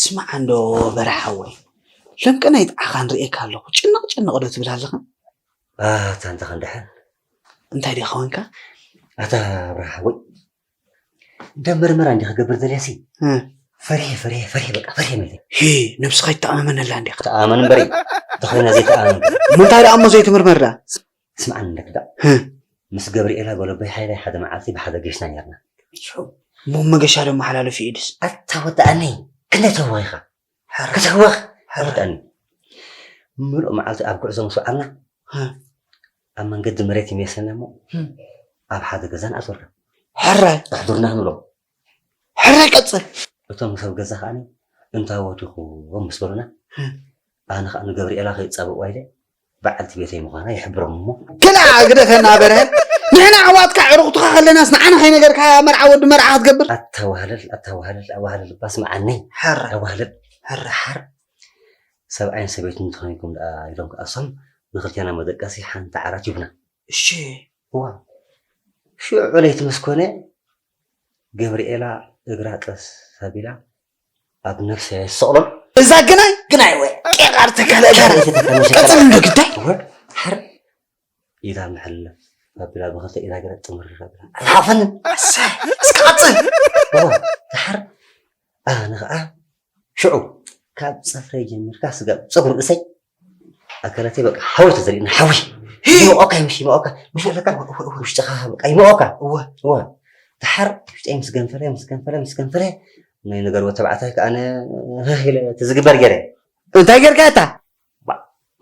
ስማዕ እንዶ በረ ሓወይ ሎምቀ ናይ ጥዓኻ ንርእየካ ኣለኹ ጭንቕ ጭንቕ ዶ ትብል ኣለኻ ኣታ እንተ ክንድሕን እንታይ ዲኻ ወንካ ኣታ ኣብርሃ ሓወይ እንደ ምርመራ እንዲ ክገብር ዘልያሲ ፈሪሐ ፈሪሐ ፈሪሐ በቃ ፈሪሐ መለ ሂ ነብስኻ ይተኣማመነላ እንዲኻ ተኣመን እምበሪ ተኾይና ዘይተኣመን ምንታይ ደኣ እሞ ዘይትምርመር ደኣ ስምዓኒ እንክዳእ ምስ ገብሪኤላ ጎሎበይ ሃይላይ ሓደ መዓልቲ ብሓደ ገሽና ኔርና። ሸው እሞ መገሻ ዶ ኣመሓላልፍ እዩ ኢድስ? ኣታ ወድኣኒ ክንደይ ትህወኽ ኢኻ ሕርር ክትህወኽ ሕርር ወድኣኒ ምሉእ መዓልቲ ኣብ ጉዕዞ ምስ ወዓልና ህ፣ ኣብ መንገዲ መሬት ይሜሰና እሞ ኣብ ሓደ ገዛ ንኣትወልካ ሕራይ ኣሕዱርና ክንብሎ ሕራይ ቀጽል። እቶም ሰብ ገዛ ከኣ እንታዎት ኢኹም ምስ በሉና፣ ኣነ ከኣ ንገብርኤላ ከይጻበቕዋ ኢለ በዓልቲ ቤተይ ምዃና ይሕብሮም እሞ። ክላእ ግደፈና በርሀ፣ ንሕና ኣሕዋትካ ኣዕሩኽትኻ ከለናስ ንዓና ከይነገርካ መርዓ ወዲ መርዓ ክትገብር። ኣታ ዋህለል ኣታ ዋህለል ኣዋህለል እባ ስምዓኒ ሕራይ ኣዋህለል ሕራይ ሓር ሰብኣይን ሰበይትን እንተኾይንኩም ደኣ ኢሎም ከኣ እሶም ንኽልቴና መደቀሲ ሓንቲ ዓራት ይሁቡና። እሺ። እዋ ሽዑ ለይቲ ምስ ኮነ ገብርኤላ እግራ ጠስ ኣቢላ ኣብ ነፍሰ የሰቕሎን እዛ ግናይ ግናይ ወይ ቄቃር ተካለ ጋር ቀጽል እንዶ ግዳይ ሓር ኢላ ምሕለ ኣቢላ ብኸልተ ኢላ ገለ ጥምር ኣቢላ ሓፈን እስከ ቀጽል ሓር ኣነ ኸኣ ሽዑ ካብ ጽፍረይ ጀሚርካ ስጋብ ጸጉሪ ርእሰይ ኣካላተይ በቃ ሓዊ ተዘሪእና ሓዊ ይመቆካ ይምሽ ይመቆካ ምሽ ኣለካ ውሽጥኻ በቃ ይመቆካ እወ እወ ድሓር ውሽጠይ ምስ ገንፈለ ምስ ገንፈለ ምስ ገንፈለ ናይ ነገር ወተባዕታይ ከዓ ኣነ ኢለ እቲ ዝግበር ገይረ እንታይ ጌርካ እታ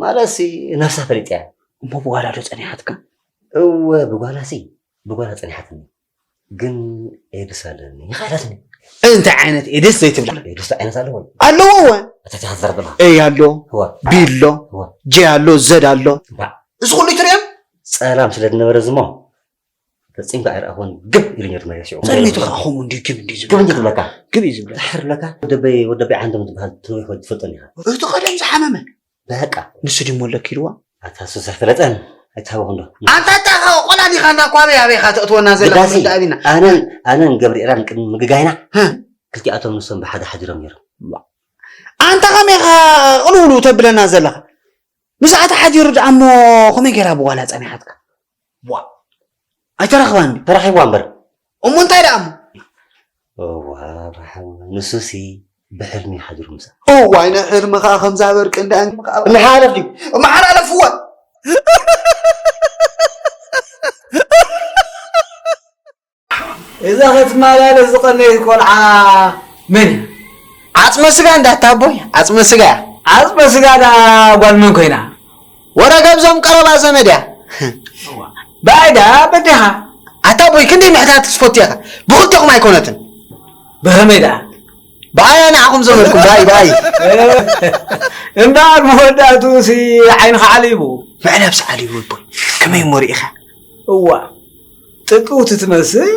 ማለትሲ ነፍሳ ፈሊጥ እያ እሞ ብጓላዶ ጸኒሓትካ እወ ብጓላሲ ብጓላ ጸኒሓትኒ ግን ኤድስ ኣለኒ ይኻላትኒ እንታይ ዓይነት ኤድስ ዘይትብላ ኤድስ ዓይነት ኣለዎ ኣለዎ ወ ኣታታ ክትዘርብላ ኤ ኣሎ ቢ ኣሎ ጄ ኣሎ ዘድ ኣሎ እዚ ኩሉ ይትሪኦም ጸላም ስለ ዝነበረ ዝሞ ፈጺምካ ኣይረኣኹን ግብ ኢሉኝ ድማ የሲዑ ጸሊቱ ከዓ ከምኡ እንዲ ግብ እንዲ ግብ እንዲ ዝብለካ ግብ እዩ ዝብለካ ድሕር ለካ ወደበይ ወደበይ ዓንዶም ዝበሃል ትንዊሕ ወዲ ትፈልጦን ኢኻ እቲ ቀደም ዝሓመመ በቃ ንሱ ድዩ መለኪ ኢልዋ። ኣታ ሱስ ኣይፈለጠን ኣይትሃበኹም ዶ። ኣንታ ጫኻ ቆላ ዲኻ እንዳ እኳ ኣበይ ኣበይ ኢኻ ተእትወና ዘለኻ ግዳሲ ንርዳእ ቢና። ኣነን ኣነን ገብርኤላን ቅድሚ ምግጋይና ህ። ክልቲኣቶም ንሶም ብሓደ ሓዲሮም ነይሮም። ኣንታ ከመይ ኢኻ ቅልውልው ተብለና ዘለኻ። ምስኣ ተሓዲሩ ደኣ እሞ ከመይ ጌራ ብጓላ ጸኒሓትካ። ዋእ ኣይተረኽባን ድዩ? ተረኺብዋ እምበር። እሞ እንታይ ደኣ እሞ? እዋይ ኣብርሃም ንሱሲ ብሕልሚ እዩ ሓዲሩ ምሳኣ። እዋይ ናይ ሕልሚ ከኣ ከምዛ በርቂ እንዳ እምሓለፍ ድዩ? እምሓላለፍዋ እዛ ክትማላለስ ዝቀነየት ቆልዓ መን እያ? ዓጽመ ስጋ እንዳ ኣቦይ ዓጽመ ስጋ እያ። ዓጽመ ስጋ ደኣ ጓል መን ኮይና? ወረገብዞም ቀረባ ዘመድ እያ። ብኣይ ደኣ በዲኻ? ኣታ ኣቦይ ክንደይ ምሕታት ዝፈቱ ኢኻ ብኽልቴኹም ኣይኮነትን። ብኸመይ ደኣ ብኣያ ንዓኹም ዘመድኩም ብኣይ ብኣይ እምበኣር መወዳእትኡሲ ዓይንኻ ዓሊቡ መዕለብሲ ዓሊቡ ኣቦይ ከመይ እሞ ርኢኻ እዋ ጥቅውቲ ትመስል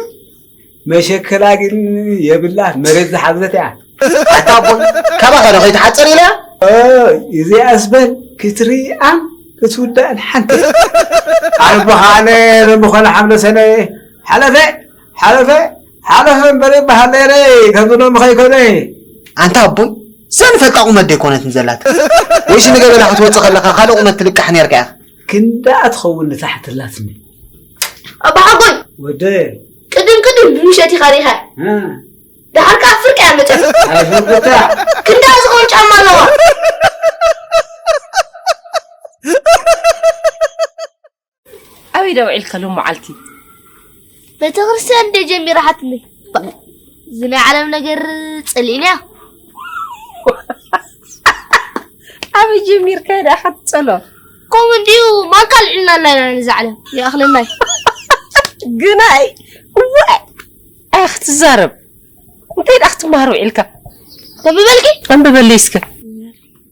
መሸከላ ግን የብላህ መሬት ዝሓዘት እያ ኣታ ኣቦ ካባኻ ዶ ከይትሓፅር ኢላ እዚኣ ዝበል ክትርኣን ክትውዳእን ሓንቲ ኣቦኻነ ብምኾነ ሓምለ ሰነ ሓለፈ ሓለፈ ሓለፈ እምበር ይበሃል ነይረ ከምዚ ሎሚ ከይኮነ ኣንታ ኣቦይ ዘንፈልጣ ቁመት ዘይኮነትን ዘላት ወይሲ ንገበላ ክትወፅእ ከለካ ካልእ ቁመት ትልቃሕ ነርካ ኢኻ ክንዳኣ ትኸውን ንታሕትላትኒ ኣባሓጎይ ወደ ቅድም ቅድም ብምሸት ኢኻ ሪኻ ድሓር ከዓ ፍርቂ እያ መጨ ኣፍርቅታ ክንዳ ዝኾን ጫማ ኣለዋ ኣበይ ደውዒልካ ሎም መዓልቲ ቤተክርስትያን እንደ ጀሚራሓትኒ እዚ ናይ ዓለም ነገር ጽልኢንያ ኣበይ ጀሚርካ ዳ ክትጸሎ ከምኡ እንዲዩ ማን ካልዕልና ኣላ ኢና ነዚ ዓለም ይኣኽለናይ ግናይ እወ ኣይ ክትዛረብ እንታይ ዳ ክትመሃር ውዒልካ ተንብበልኪ ኣንብበለይ እስከ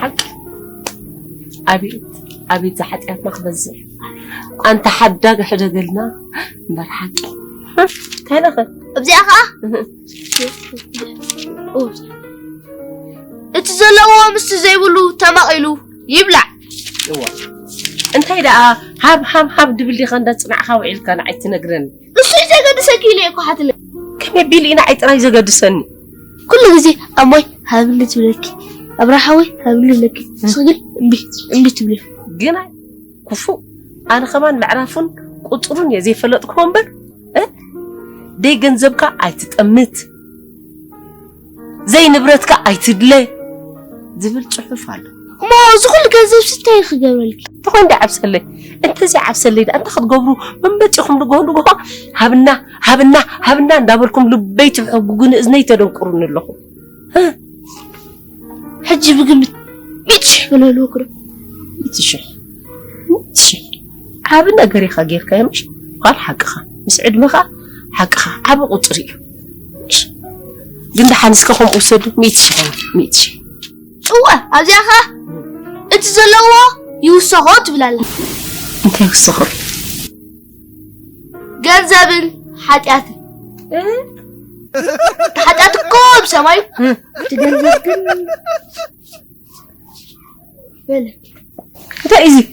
ሓቂ ኣቤት ኣቤት ዝሓጢኣትና ክበዝሕ ኣንታ ሓዳግ ሕደገልና እምበር ሓቂ እንታይ ነኸ እብዚኣ ከዓ እቲ ዘለዎ ምስቲ ዘይብሉ ተማቒሉ ይብላዕ እንታይ ደኣ ሃብ ሃብ ሃብ ድብል ዲኻ እንዳፅናዕኻ ውዒልካ ንዓይ ትነግረኒ ንሱ እዩ ዘገድሰኪ ኢለ እኮ ሓትነ ከመይ ቢል ኢና ዓይ ጥራይ ዘገድሰኒ ኩሉ ግዜ ኣሞይ ሃብሊ ትብለኪ ኣብራሓወይ ሃብሊ ትብለኪ ንስኺ ግን እምቢ እምቢ ትብሊ ግና ክፉእ ኣነ ከማን ምዕራፉን ቁፅሩን እየ ዘይፈለጥክዎ እምበር ደይ ገንዘብካ ኣይትጠምት ዘይንብረትካ ኣይትድለ ዝብል ጽሑፍ ኣሎ እሞ እዚ ኩሉ ገንዘብ ስታይ ክገብረልኪ ተኾይን ዶ ዓብሰለይ እንተዚ ዓብሰለይ ዳ እንታይ ክትገብሩ መመጺኹም ንግሆ ንግሆ ሃብና ሃብና ሃብና እንዳበልኩም ልበይ ትሕጉጉኒ እዝነይ ተደንቁሩኒ ኣለኹም ሕጂ ብግምት ሚእቲ ሽሕ ብለሉ ክረ ሚእቲ ሽሕ ሚእቲ ሽሕ ዓቢ ነገር ኢኻ ጌርካዮ ምሽ ጓል ሓቅኻ ምስ ዕድመኻ ሓቅኻ ዓቢ ቁጽሪ እዩ ግን ደሓን እስከ ከምኡ ውሰዱ ሚእቲ ሽሕ ሚእቲ ሽሕ እወ ኣብዚኣ ኸ እቲ ዘለዎ ይውሰኾ ትብል ኣላ እንታይ ይውሰኾ ገንዘብን ሓጢኣትን ሓጢኣት እኮ ኣብ ሰማይ እቲ ገንዘብ ግን በለ እንታይ እዩ እዚ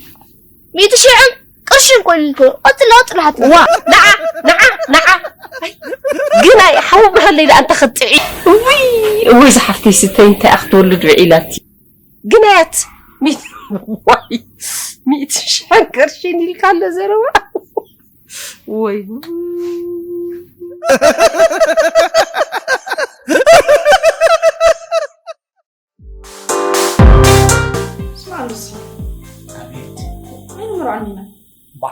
ሚእቲ ሽሕን ቅርሽን ኮይሉ እኮ ቀፅል ቀፅል ሓት ዋ ንዓ ንዓ ንዓ ግን ኣይ ሓዊ ብሃለይ ደኣ እንተ ክትጥዒ እውይ እውይ ዝሓፍተይ ስተይ እንታይ እያ ክትወልድ ውዒላቲ ግን ኣያት ሚት ዋይ ሚእቲ ሽሕን ቅርሽን ኢልካ ኣሎ ዘረባ ወይ ስማዕ ሉሲ ኣቤት ዓይኒ ምርዖን ኢና ባ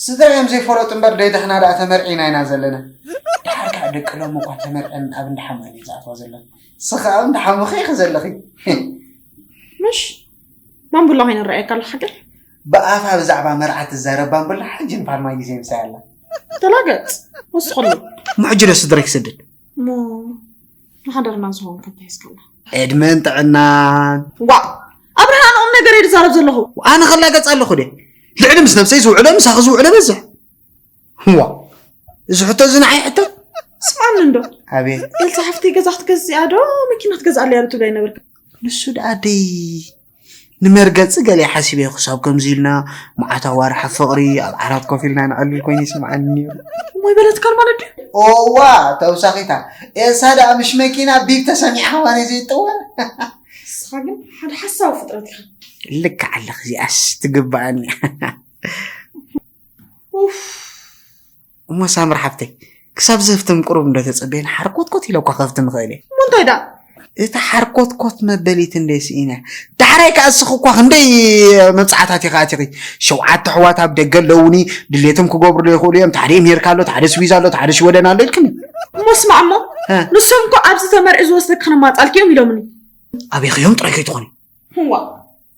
ስድራ እዮም ዘይፈለጡ እምበር ደይድሕና ደኣ ተመርዒና ኢና ዘለና ድሓር ከዓ ደቂ ሎም እኳ ተመርዐን ኣብ እንዳሓመን እዩ ዝኣትዋ ዘለኹ ስኸ ኣብ እንዳሓሙኸ ኢኺ ዘለኺ ምሽ ማንቡላ ኮይነ ንረኣየካ ኣሎ ሓገር ብኣፋ ብዛዕባ መርዓ ትዛረብ ባንቡላ ሕጂ ንፋርማይ ግዜ ምሳይ ኣላ ተላገፅ ወስኸሉ ምሕጂ ዶ ስድራ ክሰድድ እሞ ንሓዳርና ዝኸውን ከም ተሒዝካላ ዕድመን ጥዕናን ዋ ኣብርሃ ንኦም ነገር እየ ዝዛረብ ዘለኹ ኣነ ከላገፅ ኣለኹ ደ ልዕሊ ምስ ነብሰይ ዝውዕሎ ምሳኺ ዝውዕሎ በዝሕ ዋ እዚ ሕቶ እዚ ንዓይ ሕቶ ስማን እንዶ ኣቤት ኤልሳ ሓፍተይ ገዛ ክትገዝእያ ዶ መኪና ትገዝኣለያ ዶ ትብላይ ነበርካ ንሱ ደኣ ደይ ንመርገጺ ገለ ሓሲበዮ ክሳብ ከምዚ ኢልና መዓት ኣዋርሕ ኣብ ፍቕሪ ኣብ ዓራት ኮፍ ኢልና ንዕልል ኮይኑ ይስምዓኒ ነይሩ እሞይ በለትካን ማለት ድዩ ኦዋ ተውሳኺታ ኤልሳ ደኣ ምሽ መኪና ቢብ ተሰሚዓ ማሪ ዘይጠወ ንስኻ ግን ሓደ ሓሳዊ ፍጥረት ኢኻ ልክዕ ኣለኺ እዚኣስ ትግብኣኒ ኡፍ እሞ ሳምር ሓፍተይ ክሳብ ዘፍትም ቁሩብ እንዶ ተጸበየን ሓርኮትኮት ኢለ እኳ ከፍትም እኽእል እየ እሞ እንታይ ደኣ እታ ሓርኮትኮት መበሊት እንደይ ስኢነ ዳሕራይ ከዓ እስኺ እኳ ክንደይ መብፅዓታት ኢኻ ኣቲኺ ሸውዓተ ኣሕዋት ኣብ ደገ ኣለውኒ ድሌቶም ክገብሩ ዶ ይኽእሉ እዮም ሓደ ኤሜሪካ ኣሎ ሓደ ስዊዝ ኣሎ ሓደ ሽወደን ኣሎ ኢልክኒ እሞ ስማዕ እሞ ንሶም እኮ ኣብዚ ተመርዒ ዝወስደኪ ክንማፃልኪ እዮም ኢሎምኒ ኣበይኺ እዮም ጥራይ ከይትኾኒ ዋ